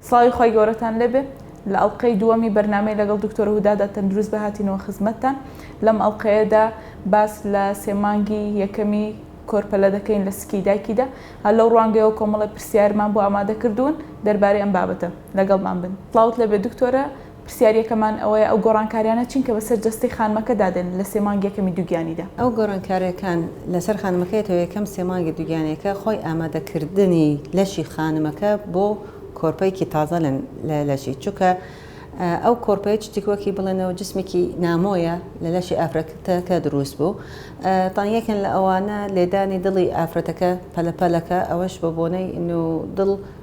سڵاوی خی گەورەتان لێبێ لە ئەڵلقەی دووەمی بەرنمەی لەگەڵ دکتۆر هودادا تەندروست بە هاتینەوە خزمەتتان لەم ئەڵلقەیەدا باس لە سێمانگی یەکەمی کۆرپەلە دەکەین لە سکی دایکیدا هەر لەو ڕوانگەیەوە کۆمەڵی پرسیارمان بۆ ئامادە کردوون دەربارەی ئەم بابەتە لەگەڵمان بن سڵاوت لەبێ دکتۆرە پرسیارییەکەمان ئەوەیە ئەو گۆڕانکارییانە چین کە بەسەر جەستەی خانمەکەدا دێن لە سێ مانگی یەکەمی دووگیانیدا؟ ئەو گۆڕانکارییەکان لەسەر خانمەکە یەتەوە یەکەم سێ مانگی دووگیانییەکە خۆی ئامادەکردنی لەشی خانمەکە بۆ کۆرپەیەکی تازە لە لەشی چونکە ئەو کۆرپەیە شتێکی وەکی بڵێنەوە جسمێکی نامۆیە لە لەشی ئافرەتەکە دروست بوو تان یەکن لە ئەوانە لێدانی دڵی ئافرەتەکە پەلەپەلەکە ئەوەش بۆ بۆنەی دڵ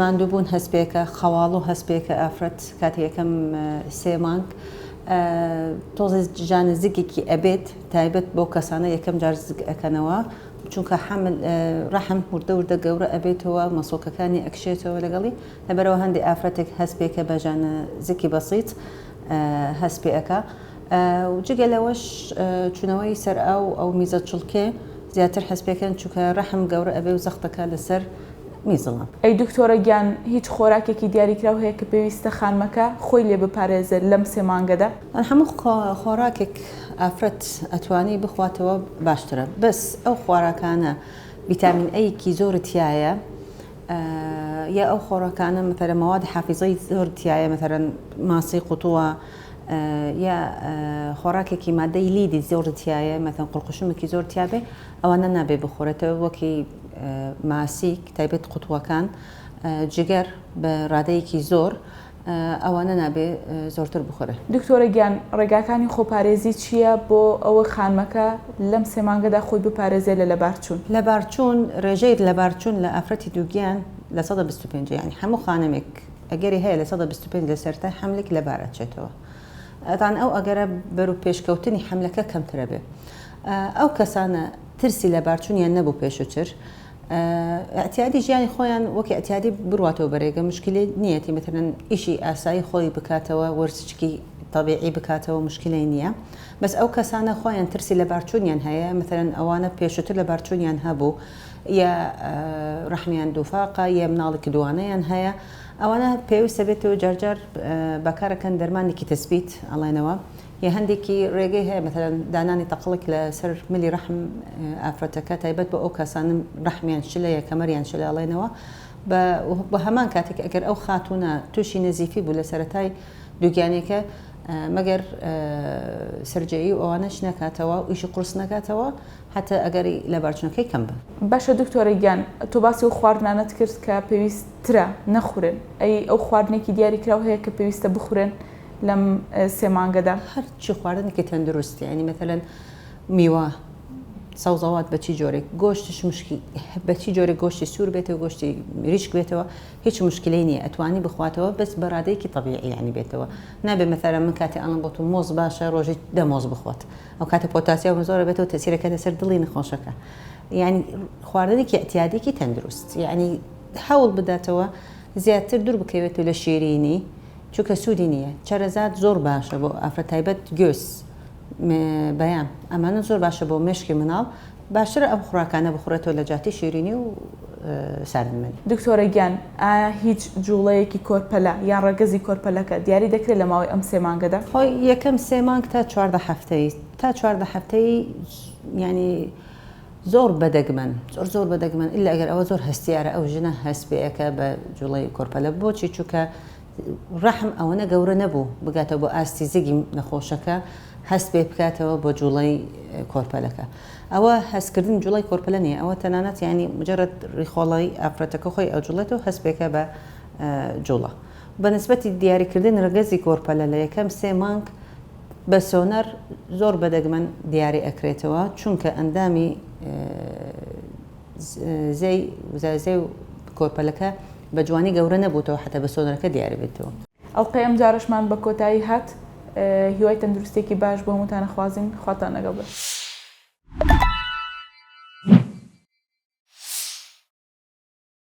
ماندووبوون هەستپێکە، خەواڵ و هەستپێکە ئافرەت کاتی یەکەم سێ مانگ تۆزێ جانە زگێکی ئەبێت تایبەت بۆ کەسانە یەکەم جار زگ ئەکەنەوە چونکە حەمل ڕەحم وردە وردە گەورە ئەبێتەوە مەسۆکەکانی ئەکشێتەوە لەگەڵی لەبەرەوە هەندێک ئافرەتێک هەستپێکە بە جانە زکی بەسیت هەست پێ ئەکا جگە لەوەش چونەوەی سەر ئاو ئەو میزە چڵکێ زیاتر هەستپێکەن چونکە ڕەحم گەورە ئەبێ و زەختەکە لەسەر میزڵە. ئەی دکتۆرە گیان هیچ خۆراکێکی دیاریکراو هەیە کە پێویستە خانمەکە خۆی لێ بپارێزێت لەم سێ مانگەدا؟ هەموو خۆراکێک ئافرەت ئەتوانی بخواتەوە باشترە بەس ئەو خۆراکانە ڤیتامین ئەی کی زۆر تیایە یا ئەو خۆراکانە مەتەرە مەواد حافیزەی زۆر تیایە مەتەرەن ماسی قوتووە یا خۆراکێکی مادەی لیدی زۆر تیایە مەتەن قوڵقوشمێکی زۆر تیاێ ئەوانە نابێ بخورێتەوە وەکی ماسیک تایبەت قوتووەکان جگەر بە رادەیەکی زۆر ئەوانە نابێ زۆرتر بخورێ. دکتۆرە گیان ڕێگاکانی خۆپارێزی چییە بۆ ئەوە خانمەکە لەم سێ مانگەدا خۆی بپارێزێ لە لەبارچوون؟ لەبارچوون، ڕێژەی لەبارچوون لە ئافرەتی دووگیان لە سەدا بیست و پێنج ە یانی هەموو خانمێک ئەگەری هەیە لە سەدا بیست و پێنج لە سەرەتای حەملێک لەبار ئەچێتەوە تان ئەو ئەگەرە بەرو پێشکەوتنی حەملەکە کەمترەبێ ئەو کەسانە ترسی لەبارچونیان نەبوو پێشوتر ئەتیادی ژیانی خۆیان وەک ئەتیادی بڕاتەوە بەرێگە مشکلی نیەتی مترن ئیشی ئاسایی خۆی بکاتەوە وەرزچکی طبیعی بکاتەوە مشکلی نییە بەس ئەو کەسانە خۆیان ترسی لە بارچونیان هەیە مترن ئەوانە پێشتر لە بارچونیان هەبوو یا ڕحمیان دووفاقە یە مناڵێکی دوانەیان هەیە ئەوانە پێویستە بێتەوە جارجار بەکارەکەن دەرمانێکی تەسبیت ئەڵێنەوە یە هەندێکی ڕێگەی هەیە مەسەلەن دانانی تەقڵک لە سەر ملی ڕەحم ئافرەتەکە تایبەت بە ئەو کەسانە ڕەحمیان شلە یە کەمەریان شلە ئەڵێنەوە بە بە هەمان کاتێک ئەگەر ئەو خاتونە تووشی نەزیفی بوو لە سەرەتای دووگیانێکە مەگەر سرجەیی و ئەوانەش نەکاتەوە ئیشی قورس نەکاتەوە هەتا ئەگەری لەبارچونەکەی کەم بن. باشە دکتۆرە گیان تۆ باسی ئەو خواردنانەت کرد کە پێویست ترە نەخورێن ئەی ئەو خواردنێکی دیاری کراو هەیە کە پێویستە بخورێن؟ لەم سێ مانگەدا هەرچی خواردنێکی تەندروست یعنی مەتەلەن میوە سەوزەوات بە چی جۆرێک گۆشتش مشکی بە چی جۆرە گۆشتی سوور بێتەوە گۆشتی ریشک بێتەوە هیچ مشکلی نییە ئەتوانی بخواتەوە بەس بەرادەیەکی طبیعیانی بێتەوە نابێ مەثلا من کاتی ئەڵم بۆ تو مۆز باشە ڕۆژی دەمۆز بخۆت ئەو کاتە پۆتاسیۆم زۆرە بێتەوە تەسیرەکە لەسەر دڵی نەخۆشەکە یعنی خواردنێکی ئەتیادێکی تەندروست یعنی هەوڵ بداتەوە زیاتر دور بکەوێت و لە شیرینی چونکە سودی نیە چەرەزات زۆر باشە بۆ ئافرەت تایبەت گوێز م بەیان ئەمانە زۆر باشە بۆ مێشکی مناڵ باشترە ئەم خوراکانە بخورێتەوە لە جاتی شیرینی و ساردمەنی. دکتۆرە گیان ئایا هیچ جوڵەیەکی کۆرپەلە یان ڕەگەزی کۆرپەلەکە دیاری دەکرێت لە ماوەی ئەم سێ مانگەدا؟ خۆ یەکەم سێ مانگ تا چواردە هەفتەی تا چواردە هەفتەی یانی زۆر بە دەگمەن زۆر زۆر بە دەگمەن الا گەر ئەوە زۆر هەستیارە ئەو ژنە هەست پێئەکا بە جوڵەی کۆرپەلە بۆچی چوکە ڕەحم ئەوەنە گەورە نەبوو بگاتە بۆ ئاستی زگی نەخۆشەکە هەست پێ بکاتەوە بۆ جوڵەی کۆرپەلەکە ئەوە هەستکردن جوڵەی کۆرپەلە نیە ئەوە تەنانەت ینی مجرد ڕیخۆڵی ئافرەتەکە خۆی ئەجوڵێت و هەست پێکە بە جوڵە بە نسبەتی دیاریکردن ڕگەزی کۆرپەلە لە یەکەم سێ مانگ بە سۆنەر زۆر بە دەگمەن دیاری ئەکرێتەوە چونکە ئەندامی زێی وزازێ و کۆرپەلەکە بە جوانی گەورە نەبووتەوە حتا بە سۆنەرەکە دیاری بێتەوە. ئەڵقەی ئەم جارەشمان بە کۆتایی هات هیوای تەندروستیەکی باش بۆ هەمووتان ئەخوازین خواتان لەگەڵ بێت.